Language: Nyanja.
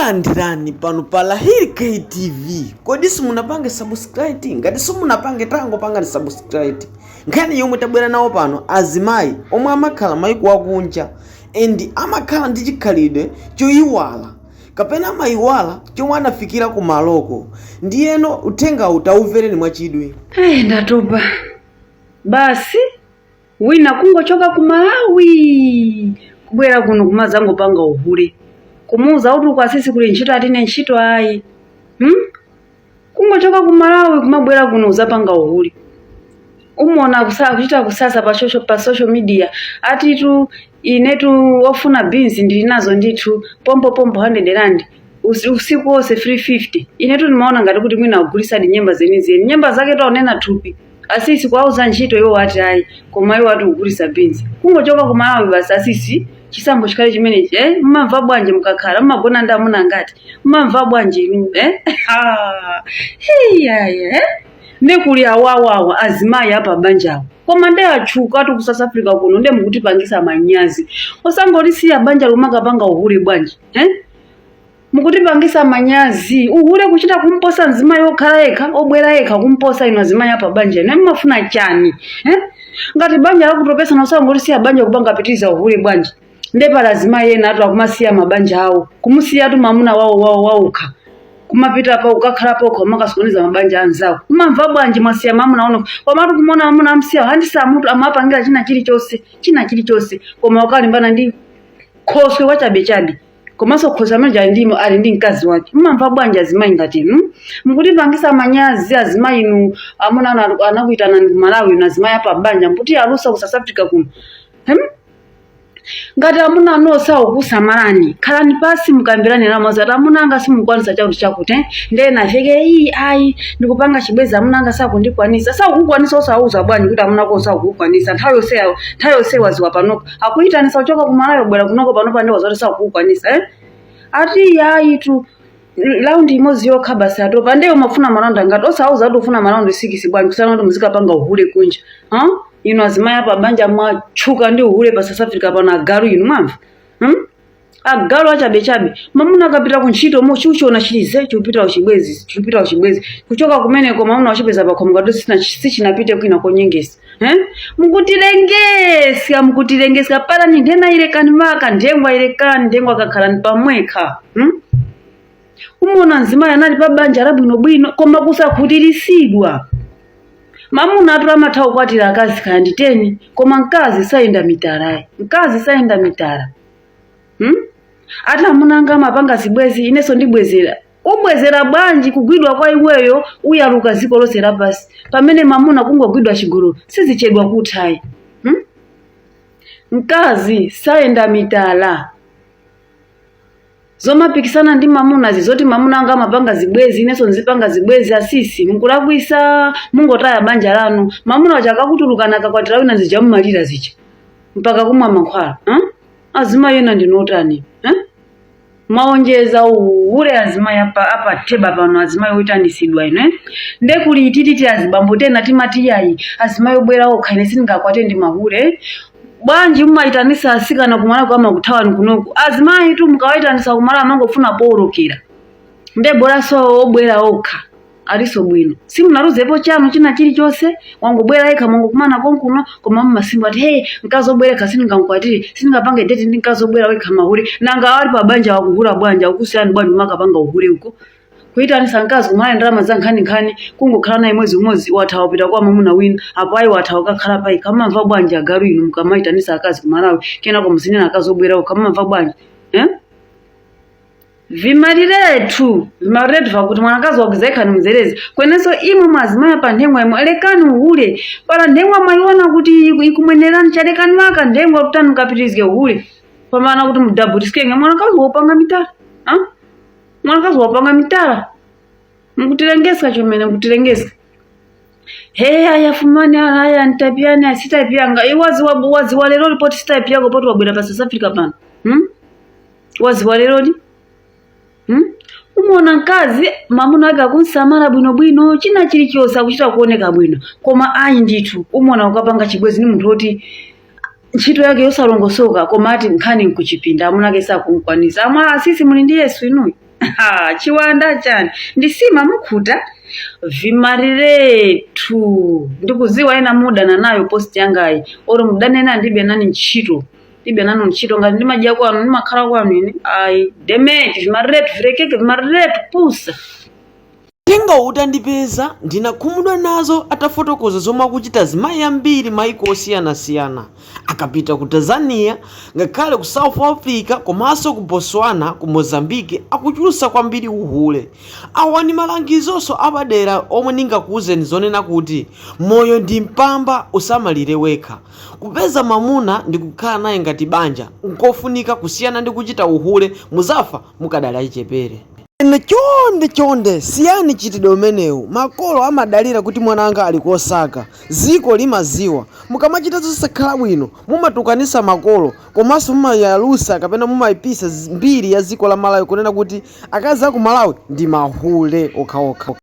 Takulandirani pano pa Lahiri K TV. Kodi simunapange subscribe? Ngati simunapange tango pangani subscribe. Nkhani yomwe tabwera nayo pano azimayi omwe amakhala maiko akunja and amakhala ndi chikhalidwe choyiwala kapena amayiwala chomwe anafikira ku maloko ndiyeno uthengawu tawumvereni mwachidwi. Ai, ndatopa basi wina kungochoka ku malawi kubwera kuno kumazangopanga uhule kumuuza kuti uku asisi kuli ntchito ati ine ntchito ayi hmm? kungochoka ku malawi kumabwera kuno uzapanga uhule umona kusa- kuchita kusasa pa social, pa social media atitu inetu ofuna beans ndili nazo ndithu pompo pompo 100 rand Usi- usiku wonse 350 inetu ndimaona ngati kuti mwina akugulisadi nyemba zenizeni nyemba zake akunena thupi asisi kuwauza ntchito iwo ati ayi koma iwo ati kugulisa beans kungochoka ku malawi basi asisi chisankho chikhale chimenechi eh? mmamva bwanji mukakhala mmagona ndi amuna ngati mmamva bwanji inu eh? Ah, hiyaya eh? nde kuli awawawa azimayi apa banjawo koma nde atchuka ati ku south africa kuno nde mukutipangisa manyazi osangolisiya banja lomakapanga uhule bwanji eh? mukutipangisa manyazi uhule kuchita kumposa mzimayi okhala yekha obwera yekha kumposa inu azimayi apa banja inu mumafuna chani eh? ngati banja lakutopesa osangolisiya banja kupanga pitiriza uhule bwanji nde pali azimayi ena atu akumasiya mabanja awo kumusiyatu mamuna wawo wawo wawukha kumapita pa kukakhala paokha kumakasokoneza mabanja anzawo mumamva bwanji mwasiya mamuna wanu komatu kumona mamuna amsiya handisa mutu amapangira china chilichonse china chilichonse koma kukalimbana ndi khoswe wachabechabe komanso khoswe ameneyo ali ndimo ali ndi mkazi wake mumamva bwanji azimayi ngati inu mukutipangisa manyazi azimayi inu amuna anu anu- anakuitanani ku malawi inu azimayi apa banja mukutiyalusa ku south africa kuno hmm? ngati amuna anu sakukusamalani khalani pasi mukambirane nawo zoti ati amuna anga simukwanisa chakuti chakuti eh? ndiye naveke iyi ayi ndikupanga chibwezi amuna anga sakundikwanisa sakukukwanisa osawauza bwanji kuti amuna ako sakukukwanisa nthawi yonse nthawi yonse waziwa panopo akuyitanisa kuchoka ku malawi kubwera kunoko panopa ndi waziwa zoti sakukukwanisa eh? ati yayitu raundi imodzi yokha basi atopa nde iwe umafuna maraundi angati osawauza kuti ufuna maraundi sikisi bwanji kusiyana kuti muzikapanga uhule kunja huh? inu azimayi apa banja mwatchuka ndi uhule pa south africa pano agalu inu mwamva hmm? agalu achabechabe mamuna akapita ku ntchito umochiona chili zii chikupita kuchibwezi chikupita kuchibwezi kuchoka kumeneko mamuna wachipeza pakhomo ngati sina- sichinapite kwina konyengesa eh? mukutilengeska mukutilengeska pala ni ntheura ilekani waka nthengwa ilekani nthengwa kakhalani pamwekha hmm? umona mzimayi anali pa banja labwinobwino koma kusakhutirisidwa mamuna atu amatha kukwatira akazi kaya ndi teni koma mkazi sayenda mitala ayi mkazi sayenda mitala hmm? ati amuna anga amapanga zibwezi inenso ndibwezera ubwezera bwanji kugwidwa kwa iweyo uyaluka dziko lonse lapansi pamene mamuna kungogwidwa chigololo sizichedwa kuthayi hmm? mkazi sayenda mitala zomapikisana ndi mamuna zizoti mamuna anga amapanga zibwezi inenso nzipanga zibwezi asisi mukulakwisa mungotaya banja lanu mamuna wacha akakutulukani akakwatira wina zija mumalira zija mpaka kumwa mankhwala huh? azimayi ena ndinotani huh? mwaonjeza uhule azimayi apa- apatheba pano azimayi oitanisidwa ino eh? nde kuli itititi azibambo tena timati yayi azimayi obwera okha ine sindingakwate ndi mahule eh? bwanji mumayitanisa asikana kumalawi kama kuthawani kunoko azimayitu mukawayitanisa kumalawi amangofuna powolokera nde bolaso obwera okha aliso bwino simunaluzepo chanu china chilichonse wangobwera yekha mwangokumana konkuno koma mumasimba ati hey mkazi obwera yekha sindingamkwatire sindingapange deti ndi mkazi obwera wekha mahule nanga awa ali pa banja wakuhula banja akusiyani bwanji umakapanga uhule uko kuyitanisa mkazi kumalawi ndalama za nkhaninkhani kungokhala naye mwezi umodzi wathawa wapita kwa mamuna wina apo ayi wathawa ukakhala payi kamamva bwanji agalu inu mukamayitanisa akazi ku malawi kenako muzinena akazi obwerawo kamamva bwanji eh? vimaliretu vimaliretu vakuti mwanakazi wakuza yekha ni muzerezi kwenenso imwe mwazimayi pa nthengwa imwe alekani uhule pala nthengwa mwayiona kuti iku- ikumwenerani cha lekani maka nthengwa kutani mukapitirizike uhule pamana kuti mudabutisikenge mwanakazi wopanga mitala ah? mwanakazi wopanga mitala mukutilengeska chomene mukutilengeska hey afumani ala aya antapiyani asitapiyanga iwaziwa waziwa lero lipoti sitapiyako poti wabwera pa south africa pano hmm? waziwa lerodi hmm? umona mkazi mamuna ake akunsamala bwinobwino china chilichonse akuchita kuoneka bwino koma ayi ndithu umona akukapanga chibwezi ni munthu woti ntchito yake yosalongosoka koma ati nkhani nkuchipinda amuna ake sakumkwanisa amwe asisi muli ndi yesu inuyi Ha, chiwanda chani ndi sima mukhuta vimariretu ndikuziwa ena mudana nayo post yangayi oro mudane nane ndilibe nanu ntchito ndilibe nanu ntchito ngati ndimadya kwanu ndimakhala kwanu ine ayi demeti vimariretu virekeke vimariretu pusa Uthengawo utandipeza, ndinakhumudwa nazo atafotokoza zomwe akuchita azimayi ambiri maiko osiyanasiyana akapita ku Tanzania ngakhale ku South Africa komanso ku Botswana ku Mozambique akuchulutsa kwambiri uhule. Awa ndi malangizonso apadera omwe ndingakuuzeni zonena kuti moyo ndi mpamba usamalire wekha. Kupeza mamuna ndikukhala naye ngati banja nkofunika kusiyana ndi kuchita uhule muzafa mukadali achichepere. Ine, chonde chonde siyani mchitidwe umenewu makolo amadalira kuti mwana wanga ali kosaka, ziko limaziwa mukamachita zosakhala bwino mumatukanisa makolo komanso mumayalusa kapena mumaipisa mbiri ya ziko la Malawi kunena kuti akazi aku Malawi ndi mahule okhaokha.